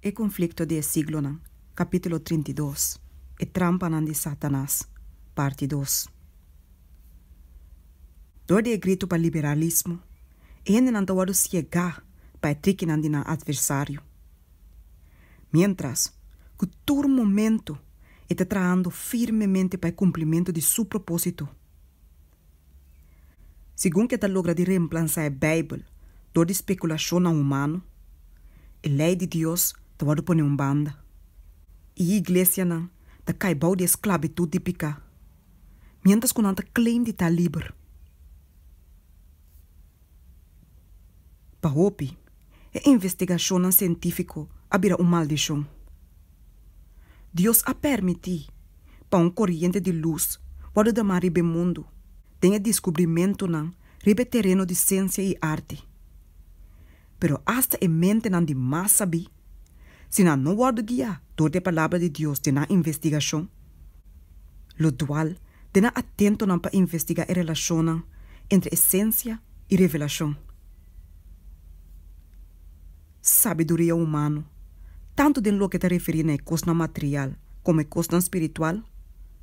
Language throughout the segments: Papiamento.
E konflikto di e siglonan, kapítulo trinta i dos, E trampanan di Sátanas, parti dos. Dor di e gritu pa liberalismo, e hendenan ta wòrdu siegá pa e trikinan di nan atversario. Miéntras ku tur momentu e ta trahando firmemente pa e kumplimentu di su propósito, Segun ke ta logra di reemplansa e Beibel dor di spekulashonnan humano, e lei di Dios ta wordu pone un banda, i iglesianan ta kai bou di e sklabitut di piká, miéntras ku nan ta claim di ta liber. Pa hopi, e investigashonnan sientífiko a bira un maldishon. Dios a pèrmití pa un koriente di lus wòrdu damá riba e mundu den e diskubrimentunan riba e tereno di siensia i arti. Pero asta e mentenan di mas sabí, si nan no wòrdu guiá dor di e Palabra di Dios den nan investigashon, lo dual den nan atentonan pa investigá e relashonnan entre esensia i revelashon. Sabiduria humano, tantu den loke ta referí na e kosnan material komo e kosnan spiritual,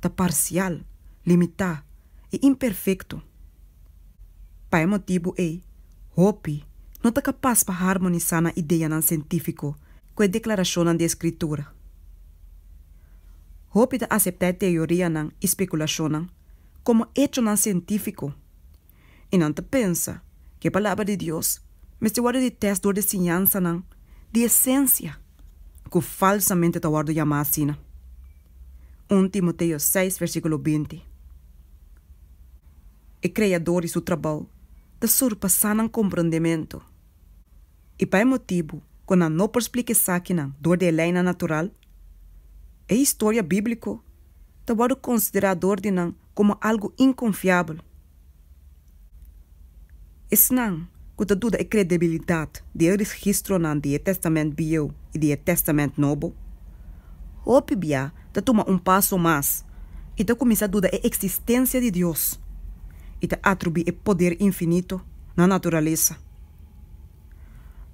ta parsial, limitá i imperfekto. Pa e motibu ei, hopi no ta kapas pa harmonisá nan ideanan sientífiko ku e deklarashonnan di e Skritura. Hopi ta aseptá e teorianan i spekulashonnan komo echonan sientífiko. i nan ta pensa ku e Palabra di Dios mester wòrdu di tèst dor di siñansanan di esensia ku falsamente ta wòrdu yamá asina. Un Timoteo seis versíkulo binti, E Kreadó di su trabou ta surpasá nan komprondementu, i pa e motibu ku nan no por splika esakinan dor di e leinan natural, e historia bíbliko ta wòrdu konsiderá dor di nan komo algu inkonfiabel. Esnan ku ta duda e kredebilidat di e registronan di e Tèstamènt Bieu i di e Tèstamènt Nobo, hopi bia ta tuma un paso mas i ta kuminsá duda e eksistensia di Dios i ta atribuí e poder infinito na naturalesa.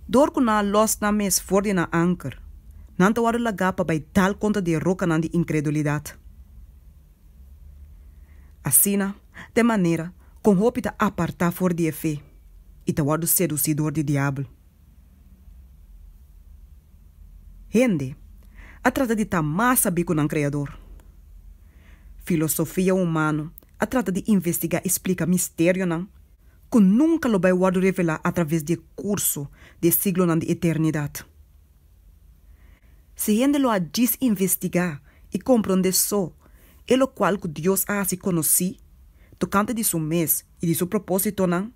Dor ku nan a lòs nan mes for di nan anker, nan ta wòrdu lagá pa bai dal kontra di e rokanan di inkredulidat. Asina ta e manera kon hopi ta apartá for di e fe i ta wòrdu sedusí dor di Diabel. Hende a trata di ta mas sabí ku nan Kreador. Filosofia humano a trata di investigá i splika misterionan ku nunka lo bai wòrdu revelá atraves di e kurso di e siglonan di eternidat. Si hende lo a djis investigá i komprondé so e lokual ku Dios a hasi konosí tokante di su mes i di su propósitonan,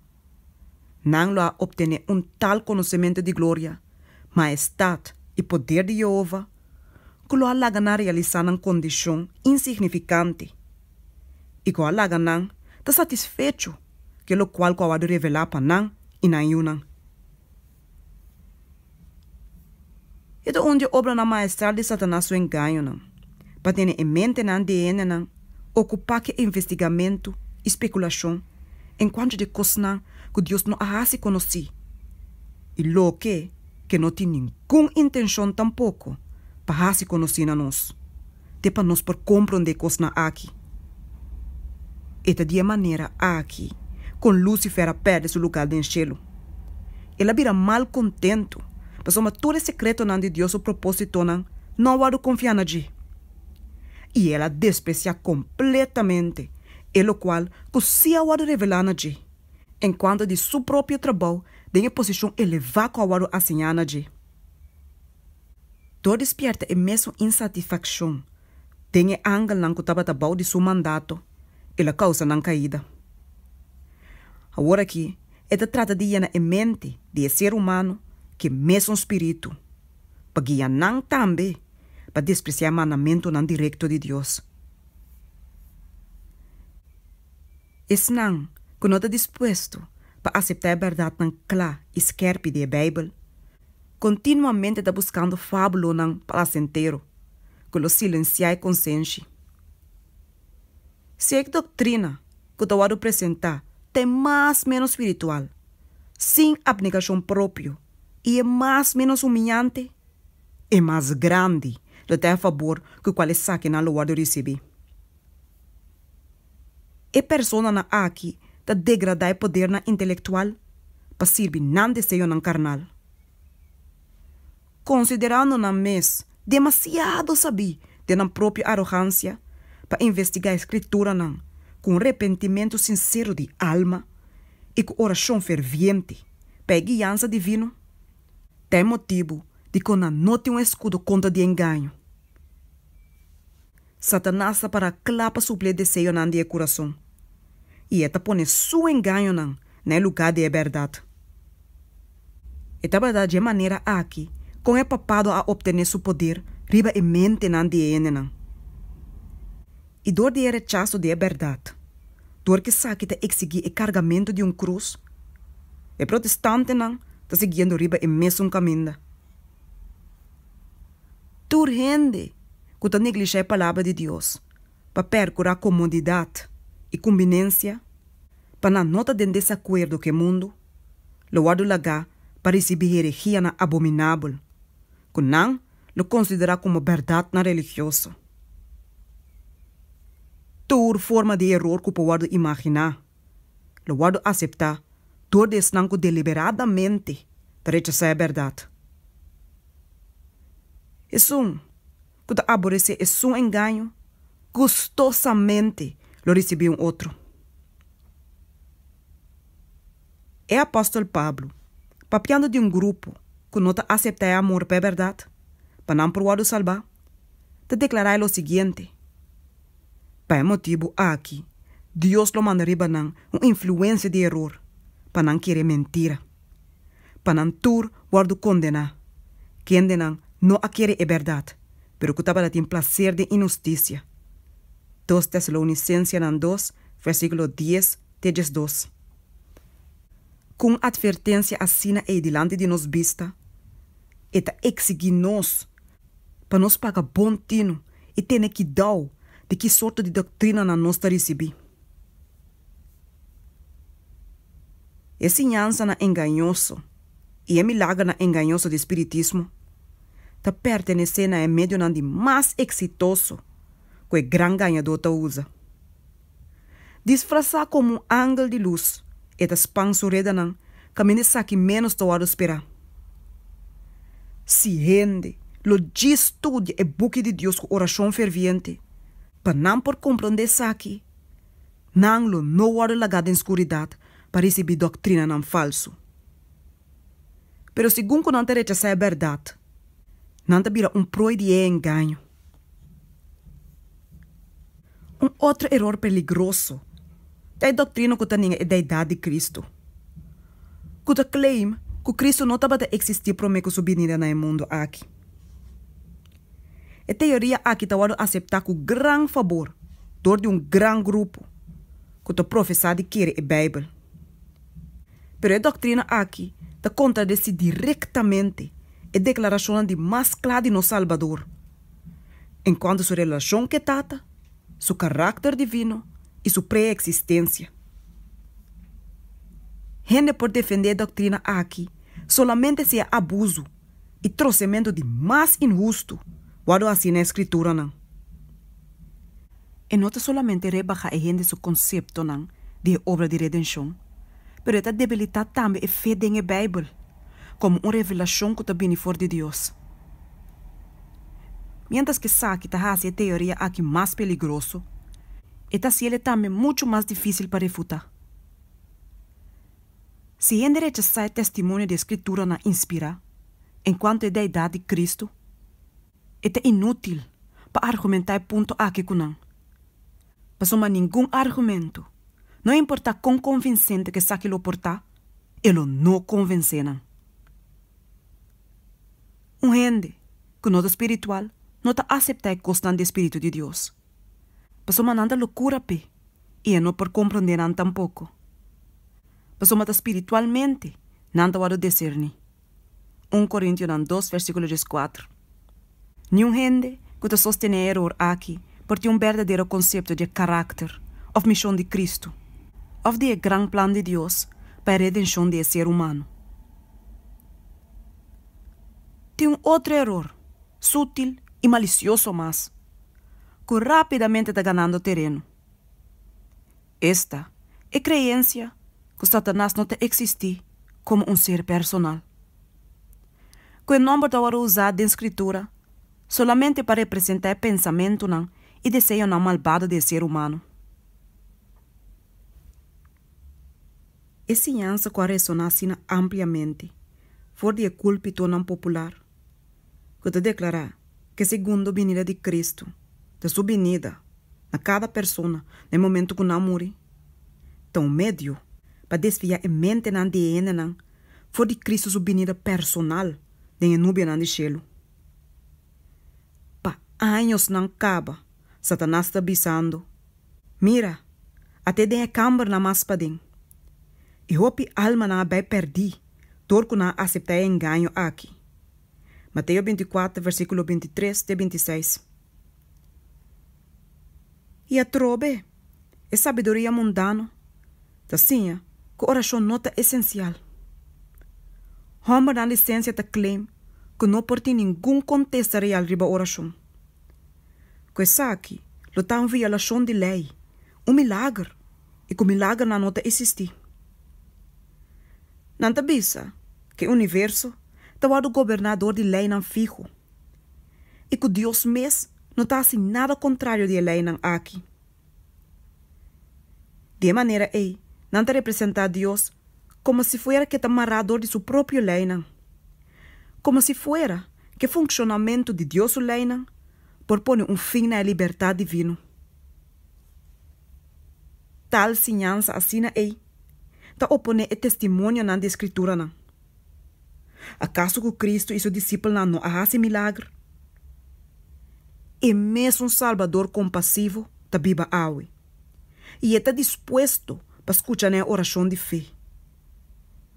nan lo a optené un tal konosementu di gloria, maestat i poder di Yehova ku lo a laga nan realisá nan kondishon insignifikante i ku a laga nan ta satisfecho ku e lokual ku a wòrdu revelá pa nan i nan yunan. E ta un di e obranan maestral di Satanas su engañonan, pa tene e mentenan di e hendenan okupá ku e investigamentu i spekulashon en kuantu di kosnan ku Dios no a hasi konosí i loke ke no tin ningun intenshon tampoko pa hasi konosí na nos. te pa nos por komprondé e kosnan aki. E ta di e manera aki kon Lúsifer a pèrdè su lugá den shelu. El a bira malkontentu pasobra tur e sekretonan di Dios su propósitonan no a wòrdu konfiá na dje, i el a despresiá kompletamente e lokual ku sí a wòrdu revelá na dje, en kuanto di su propio trabou den e posishon elevá ku a wòrdu aseñá na dje. Tur dispierta e mesun insatisfakshon den e angelnan ku tabata bou di su mandato, el a kousa nan kaida. Aworakí e ta trata di yena e mente di e ser humano ku e mesun spiritu, pa guia nan tambe pa despresiá e mandamentunan direkto di Dios. Esnan ku no ta dispuesto pa aseptá e bèrdatnan kla i skèrpi di e Beibel, Kontinuamente ta buskando fabulonan plasentero ku lo silensiá e konsenshi. Si e doktrina ku ta wòrdu presentá ta e mas ménos spiritual, sin apnegashon propio, i e mas ménos humiante, e mas grandi lo ta e fabor ku kual esakinan lo wòrdu risibí. E personanan aki ta degradá e podernan intelektual pa sirbi nan deseonan karnal. Konsiderando nan mes demasiado sabí den nan propio arogansia pa investigá e Skrituranan ku un repentimentu sinsero di alma i ku orashon ferviente pa e guiansa divino, ta e motibu dikon nan no tin un eskudo kontra di engaño. Satanas ta para kla pa suplí e deseonan di e kurason, i e ta pone su engañonan na e lugá di e bèrdat. E tabata dje manera aki kon e papado a optené su poder riba e mentenan di e hendenan. I dor di e rechaso di e bèrdat, dor ku esaki ta eksigí e kargamentu di un krus, e protestantenan ta siguiendo riba e mesun kaminda. Tur hende ku ta neglishá e palabra di Dios pa pèrkurá komodidat i kumbinensia pa nan no ta den desakuerdo ku e mundu, lo wòrdu lagá pa risibí heregianan abominabel ku nan lo konsiderá komo bèrdatnan religioso. Tur forma di eror ku por wòrdu imaginá lo wòrdu aseptá tur di esnan ku deliberadamente ta rechasá e bèrdat. Esun ku ta aboresé esun engaño gustosamente lo risibí un otro. E apòstel Pablo, papiando di un grupo ku no ta aseptá e amor pa e bèrdat pa nan por wòrdu salbá, ta deklará lo siguiente, Pa e motibu aki, Dios lo manda riba nan un influensia di eror pa nan kere mentira, pa nan tur wòrdu kondená, kendenan no a kere e bèrdat, pero ku tabata tin plaser den inhustisia. Dos Tesalounisensenan dos, versíkulo dies te diesdos. Ku un atvertensia asina ei dilanti di nos bista, e ta eksigí nos, Pa nos paga bon tinu i tene kidau di ki sorto di doktrinanan nos ta risibí. E siñansanan engañoso i e milagernan engañoso di spiritismo ta pertenesé na e medionan di mas eksitoso ku e Gran Gañadó ta usa. Disfrasá komo un angel di lus, e ta span su redanan kaminda esaki ménos ta wòrdu sperá. Si hende lo djis studia e Buki di Dios ku orashon ferviente pa nan por komprondé esaki, nan lo no wòrdu lagá den skuridat pa risibí dòktrinanan falsu. Pero segun ku nan ta rechasá e bèrdat, nan ta bira un proi di e engaño. Un otro eror peligroso ta e doktrina ku ta nega e deidat di Kristu, ku ta claim ku Kristu no tabata eksistí promé ku su binida na e mundu aki. E teoria aki ta wòrdu aseptá ku gran fabor dor di un gran grupo ku ta profesá di kere e Beibel. Pero e doktrina aki ta kontradesí direktamente e deklarashonnan di mas kla di nos Salbador en kuantu su relashon ku e Tata, su karakter divino i su preeksistensia. Hende por defendé e doktrina aki solamente si e abusu i trosementu di mas inhustu wòrdu hasí na e Skrituranan. E no ta solamente rebahá e hende su konseptonan di e obra di redenshon, pero e ta debilitá tambe e fe den e Beibel komo un revelashon ku ta bini for di Dios. Miéntras ku esaki ta hasi e teoria akí mas peligroso, e ta hasiel e tambe muchu mas difísil pa refutá. Si hende rechasá e testimonio di e Skriturnan inspirá enkuanto e deidat di Kristu, e ta inútil pa argumentá e punto akí ku nan. Pasobra ningun argumentu, no importá kon konvinsente ku esaki lo por ta, e lo no konvensé nan. Un hende ku no ta spiritual no ta aseptá e kosnan di e Spiritu di Dios. pasobra nan ta locura p'e y e no por comprende nan tampoco. Pasobra ta spiritualmente nan ta wòrdu decerní. Un Corintionan dos versículo diescuatro. Niun hende cu ta sostené e eror aki por tin un berdadero concepto di e carácter of mision di Cristo of di e gran plan di Dios pa e redencion di e ser humano. Tin un otro eror, sutil y malicioso mas. cu rapidamente ta ganando tereno. Esta e creencia cu Satanas no ta existi como un ser personal. Cu e nomber ta worde usa den Scritura solamente pa representa e pensamentonan y deseonan malbado di e ser humano. E siñansa cu a resona asina ampliamente for di e culpitonan popular. ku ta deklará ku e segundo binida di Kristu ta su binida na kada persona na e momentu ku nan muri ta un medio pa desviá e mentenan di e hendenan for di Kristu su binida personal den e nubianan di shelu. Pa añosnan kaba, Satanas ta bisando, Mira, ate den e kambernan mas paden, e hopi almanan a bai pèrdí dor ku nan a aseptá e engaño aki. Mateo binticuater versiculo bintitres te bintiseis. I atrobe e sabiduria mundano ta siña cu oracion no ta esencial. Hombernan di ciencia ta claim cu no por tin ningun contesta real riba oracion. Cu esaki lo ta un violacion di ley, un milager, i cu milagernan no ta existi. Nan ta bisa ku e universo ta wòrdu goberná dor di leinan fihu i ku Dios mes no ta hasi nada kontrario di e leinan aki. Di e manera ei, nan ta representá Dios komo si fuera ke ta mará dor di su propio leinan, komo si fuera ku e funshonamentu di Dios su leinan por pone un fin na e libertat divino. Tal siñansa asina ei ta oponé e testimonionan di e Skrituranan? Akaso ku Kristu i su disipelnan no a hasi milagro? E mesun Salbador kompasivo ta biba awe, i e ta dispuesto pa skucha na e orashon di fe.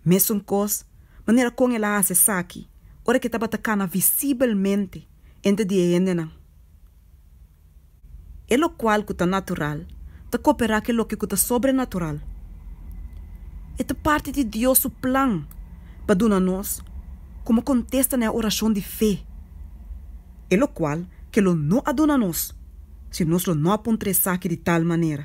Mesunkos manera kon el a hasi esaki ora ke tabata kana visibelmente entre di e hendenan. E lokual ku ta natural ta koperá ku e loke ku ta sobrenatural. E ta parti di Dios su plan pa duna nos komo kontesta na e orashon di fe, e lokual ke lo no a duna nos si nos lo no a pon trese esaki di tal manera.